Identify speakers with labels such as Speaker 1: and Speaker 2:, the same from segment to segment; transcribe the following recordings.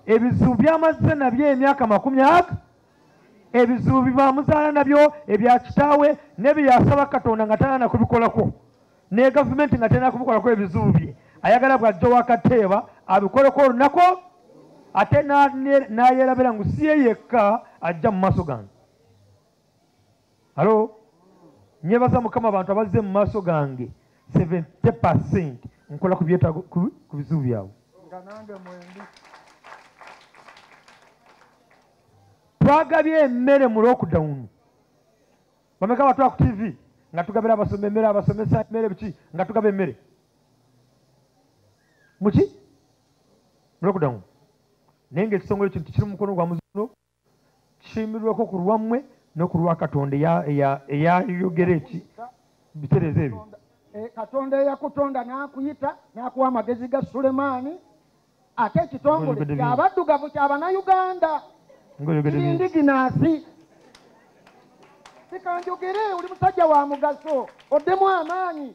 Speaker 1: ebizibu byamazze nabyo emyaka makumi aga ebizibu bibamuzaala nabyo ebya kitaawe nebyeyasaba katonda nga talana kubikolako ne gavumenti nga talina kubikolako ebizibu bye ayagala bwajja wakateeba abikoleko olunaku ate nayerabira ngu siye yekka ajja mu maaso gange halo nyebaza mukama abantu abazze mu maaso gange 70 percent nkola ku bizibu byabwe twagabye emmere mu lockdown bameka batwala ku tv nga tugabira abasoma emmere abasomesa emmere biki nga tugaba emmere muki mu lockdown naye nga ekisongole kintu kiri mu mukono gwa muzuno kisimbirweko ku lwammwe no ku lwa katonda eyayogera eki bitereeza ebyo e, katonda
Speaker 2: eyakutonda n'akuyita n'akuwa amagezi ga sulemaani ate ekitongole kyabaddugavu kyabanayuganda kirindiginaasi sikanjogere oli musajja wa mugaso oddemu amaanyi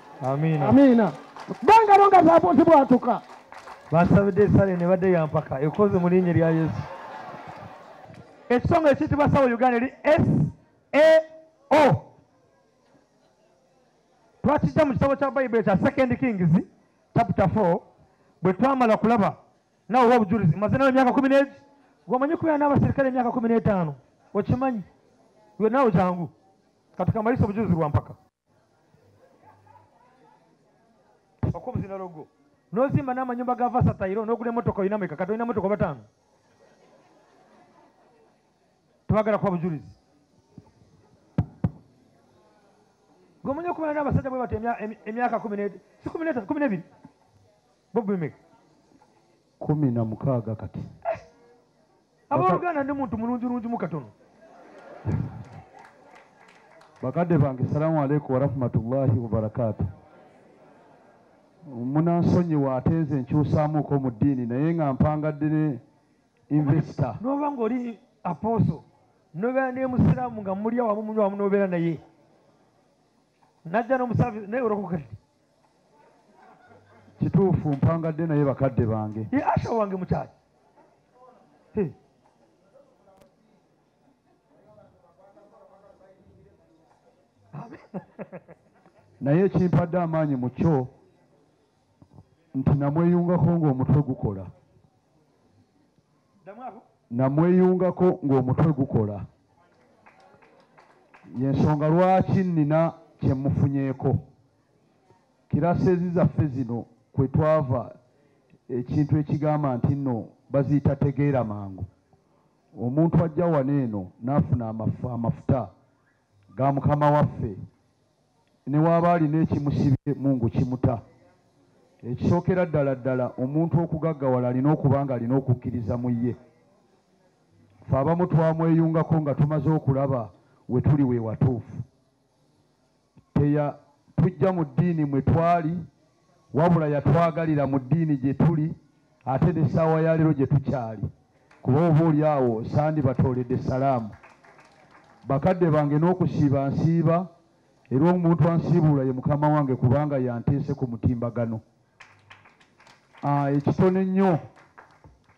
Speaker 2: amiina amiina bangalo nga zabuuzi bwatuka basabidde
Speaker 1: esale ne badde yampaka ekoze mu linnya erya yesu ekisonga ekiyitibwa sawo uganda eri sao twakijja mu kitabo kya bayibuli ekya second kings chapter 4 bwe twamala kulaba nawe oba obujulizi maze nawe emyaka kumi n'egi gwomanyi kubeera n'abaserikale emyaka kumi n'etaano okimanyi we nawe jangu katukamalisa obujulizi bwa mpaka okubuzina logo nozimba n'amanyumba ga vasatairo n'ogula emotoka olina meka kati olina motoka bataano tebagala kuba bujulizi gomanya okubala n'abasajja bwe bati emyaka kumi n'ebiri bobimeka kumi na mukaaga
Speaker 2: kati
Speaker 1: aboluganda ndi muntu mulungi lungi mukatono
Speaker 2: bakadde bange salamu aleikum warahmatullahi wabarakatu munansonyiwa ate nze nkyusaamuuko mu ddiini naye nga mpangadde ne investa noba nga oli
Speaker 1: aposo nobeera naye musiraamu nga muli awamu munywa wamu nobeera naye najja nomusafi naye olokoka
Speaker 2: kituufu mpangadde naye bakadde bange ye asha wange mukyaki naye ekimpadde amaanyi mu kyo nti namweyungako ng'omutwe gukola namweyungako ng'omutwe gukola yensonga lwaki nnina kyemufunyeeko kirasezi zaffe zino kwe twava ekintu ekigamba nti nno baziyita tegeera mangu omuntu ajja wano eno n'afuna amafuta ga mukama waffe ne waaba alina ekimusibye mungu kimuta ekisookera ddala ddala omuntu okugaggawala alina okuba nga alina okukkiriza mu ye fe abamu twamweyungako nga tumaze okulaba we tuli we watuufu teya tujja mu ddiini mwe twali wabula yatwagalira mu ddiini gye tuli ate ne ssaawa ya leero gye tukyali kuba oba oli awo sandi batooledde salaamu bakadde bange n'okusiiba nsiiba era omuntu ansiibuula ye mukama wange kubanga yanteese ku mutimbagano ah, ekitono ennyo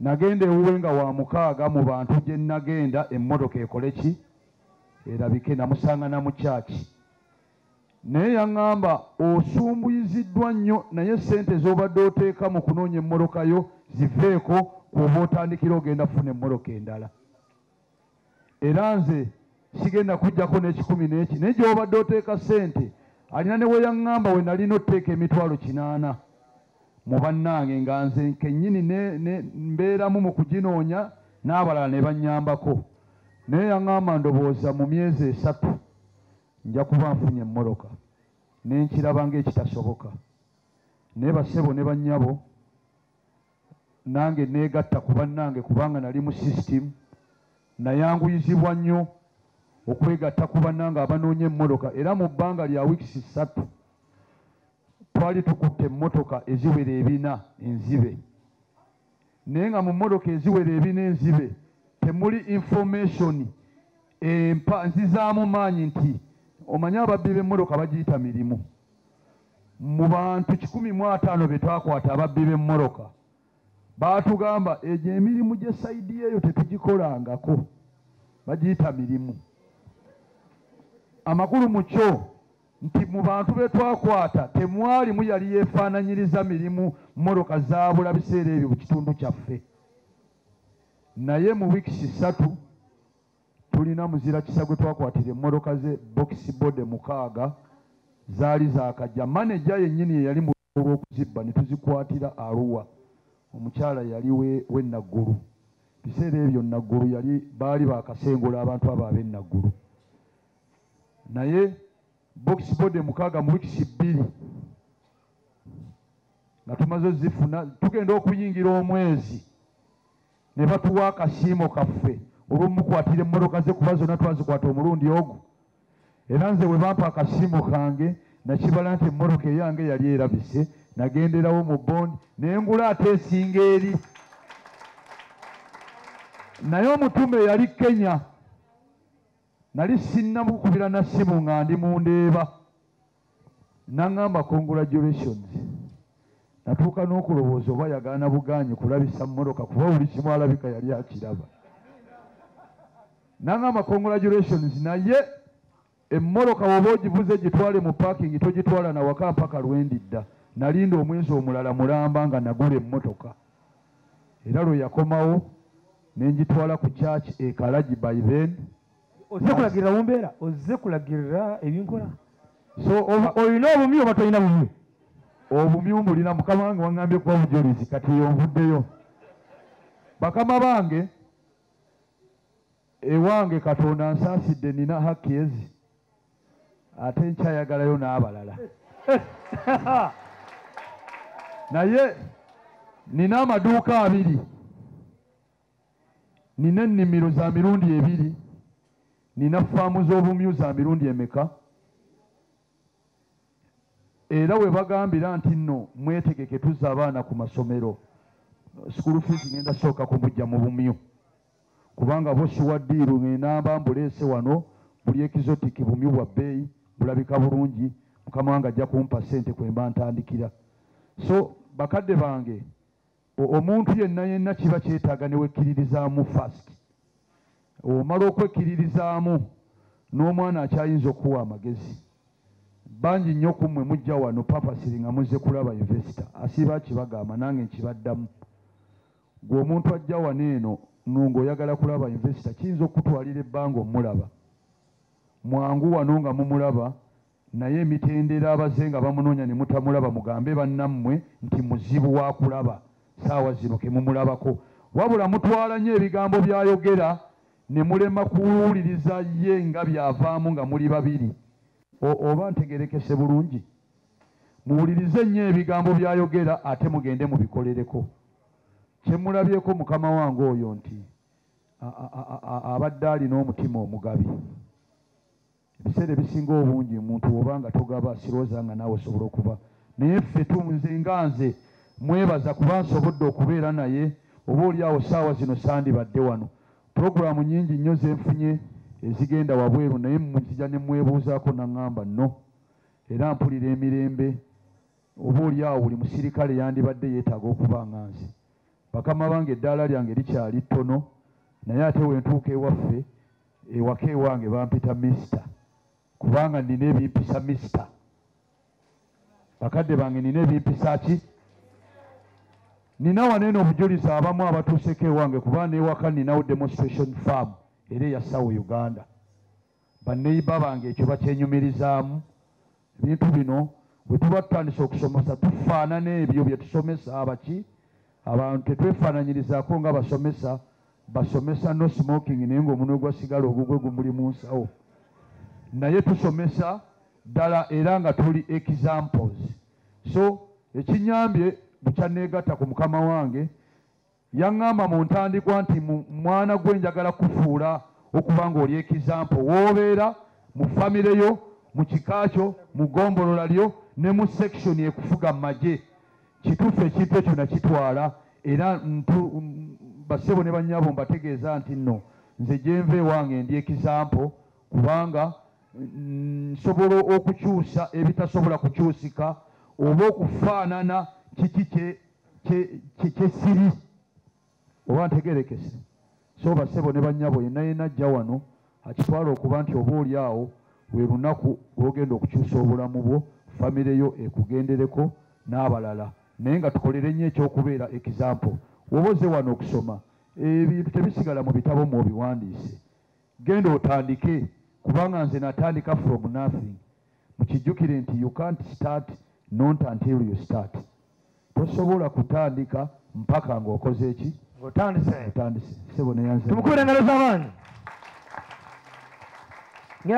Speaker 2: nagenda ewuwe nga wa mukaaga mu bantu gye nagenda emmotoka ekole ki erabike namusanga na mukyaki naye yaŋŋamba osumbuyiziddwa nnyo naye ssente z'obadde oteeka mu kunoonya emmoloka yo ziveeko kuoba otandikira ogenda kufuna emmoloka endala era nze sigenda kujjako n'ekikumi n'eki naye gyobadde oteeka ssente alina ne weyaŋŋamba we nalina oteeka emitwalo kinaana mu bannange nga nze kennyini mbeeramu mu kuginoonya n'abalala ne bannyambako naye yaŋŋamba ndowooza mu myezi esatu nja kuba nfunye emmoroka ne nkiraba ng'ekitasoboka naye basebo ne bannyabo nange neegatta ku bannange kubanga nali mu sisitimu nayanguyizibwa nnyo okwegatta ku bannange abanoonya emmotoka era mu bbanga lya wiikisi ssatu twali tukutte emmotoka eziwera ebina enzibe naye nga mu mmotoka eziwera ebina enzibe temuli information empa nzizaamu maanyi nti omanyi ababbi b'emmotoka bagiyita mirimu mu bantu kikumi mu ataano be twakwata ababbi b'emmoroka baatugamba egyo emirimu gye sayidi eyo tetugikolangako bagiyita mirimu amakulu mu kyo nti mu bantu be twakwata temwalimu yali yeefaananyiriza mirimu mmoroka zaabula biseera ebyo mu kitundu kyaffe naye mu wiikisi ssatu tulina muzira kisa gwe twakwatira emmoloka ze bokisi bode mukaaga zaali zakajja maneja yennyini ye yali mu olw'okuzibba ne tuzikwatira aruwa omukyala yali we naggulu biseera ebyo naggulu yali baali bakasengula abantu abo ab'e naggulu naye bokisi bode mukaaga mu wikisi bbiri nga tumaze ozifuna tugenda okuyingira omwezi ne batuwa akasiimo kaffe olw'omukwatira emmotoka ze kuba zonna twazikwata omulundi ogwo era nze bwe bampa akasiimo kange nakibala nti emmotoka eyange yali erabise nagenderawo mu bondi naye ngula ate esinga eri naye omutume yali kenya nali sinnamukubira na ssimu nga ndi mu ndeeba naŋŋamba congratulations natuuka n'okulowooza oba yagaana bugaanyi kulabisa mmotoka kuba buli kimu alabika yali akiraba naŋŋamba congratulations naye emmoloka woba ogivuze gitwale mu parking togitwala nawaka mpaka lwendidda nalinda omwezi omulala mulamba nga nagula emmotoka era lwe yakomawo ne ngitwala ku church e kalagi by then ozze kulagirira
Speaker 1: mu mbeera ozze kulagirira ebinkola so olina obumyu oba tolina bumyu obumyu
Speaker 2: mbulina mukama wange waŋambye kuba bujulizi kati yonvuddeyo bakama bange ewange katonda nsaasidde nina hakki ezi ate nkyayagalayo n'abalala naye nina amaduuka abiri nina ennimiro za mirundi ebiri nina faamu z'obumyu za mirundi emeka era we bagambira nti nno mwetegeke tuzza abaana ku masomero sukulu fiizi ngenda sooka kumujja mu bumyu kubanga bo siwa ddiiru ng'enamba mbuleese wano buli exotic bumyu bwa bbeeyi bulabika bulungi mukama wange ajja kumpa ssente kwe mba ntandikira so bakadde bange omuntu yenna yenna kiba kyetaaga ne wekkiririzaamu fast omala okwekkiririzaamu n'omwana akyayinza okuwa amagezi bangi nnyo ku mmwe mujja wano papasiri nga muzze kulaba investor asiiba kibagamba nange nkibaddamu Gwe omuntu ajja wano eno nunga oyagala kulaba investor kiyinza okutwalira ebbanga omulaba mwangu wano nga mumulaba naye emitendera abaze nga bamunoonya ne mutamulaba mugambe bannammwe nti muzibu wa kulaba saawa zino ke mumulabako wabula mutwala nnyo ebigambo by'ayogera ne mulema kuwuliriza ye nga byavaamu nga muli babiri oba ntegerekese bulungi muwulirize nnyo ebigambo by'ayogera ate mugende mubikolereko kye mulabyeko mukama wange oyo nti abadde alina omutima omugabi ebiseera ebisinga obungi omuntu oba nga togaba sirooza nga naawe osobola okuba naye ffe tunze nga nze mwebaza kuba nsobodde okubeera naye oba oli awo saawa zino sandibadde wano pulogulaamu nyingi nnyo zenfunye ezigenda wabweru naye mukija ne mwebuuzaako naŋŋamba no era mpulira emirembe oba oli awo buli musirikale yandibadde yeetaaga okuba nga nze bakama bange eddaala lyange likyali ttono naye ate wentuuka ewaffe ewaka ewange bampita misita kubanga nina ebimpisa misita bakadde bange nina ebimpisa ki nina waneeno obujulizi abamu abatuuseko ewange kuba newaka ninawo demonstration farm era eya sawa uganda banneyiba bange ekyo bakyenyumirizaamu ebintu bino bwe tuba tutandise okusomesa tufaanana ebyo bye tusomesa abaki abantu tetwefaananyirizaako nga basomesa basomesa no smoking naye ngaomunwe gwasigala ogugwe gumuli mu nsawo naye tusomesa ddala era nga tuli examples so ekinyambye bukyanneegatta ku mukama wange Yaŋŋamba mu ntandikwa nti mwana gwe njagala kufuula okuba ng'oli ekizampo w'obeera mu famire yo mu kika kyo mu gombolola lyo ne mu sekisoni ekufuga mu magye kituufu ekintu ekyo nakitwala era basebo ne bannyabo mbategeeza nti nno nze gyenva ewange ndi ekizampo kubanga nsobola okukyusa ebitasobola kukyusika oba okufaanana kiki kye kyesiri oba ntegerekese so basebo ne banyabo yena yena ajja wano akitwala okuba nti oba oli awo lwe lunaku lwogenda okukyusa obulamu bwo famire yo ekugendereko n'abalala naye nga tukolere nnyo ekyokubeera example woba oze wano okusoma ebintu tebisigala mu bitabo mu obiwandiise genda otandike kubanga nze natandika from nothing mukijjukire nti you can't start not until you start tosobola kutandika mpaka
Speaker 1: ng'okoze
Speaker 2: eki otandise sebo neyanze tumukubira engalo z'amaanyi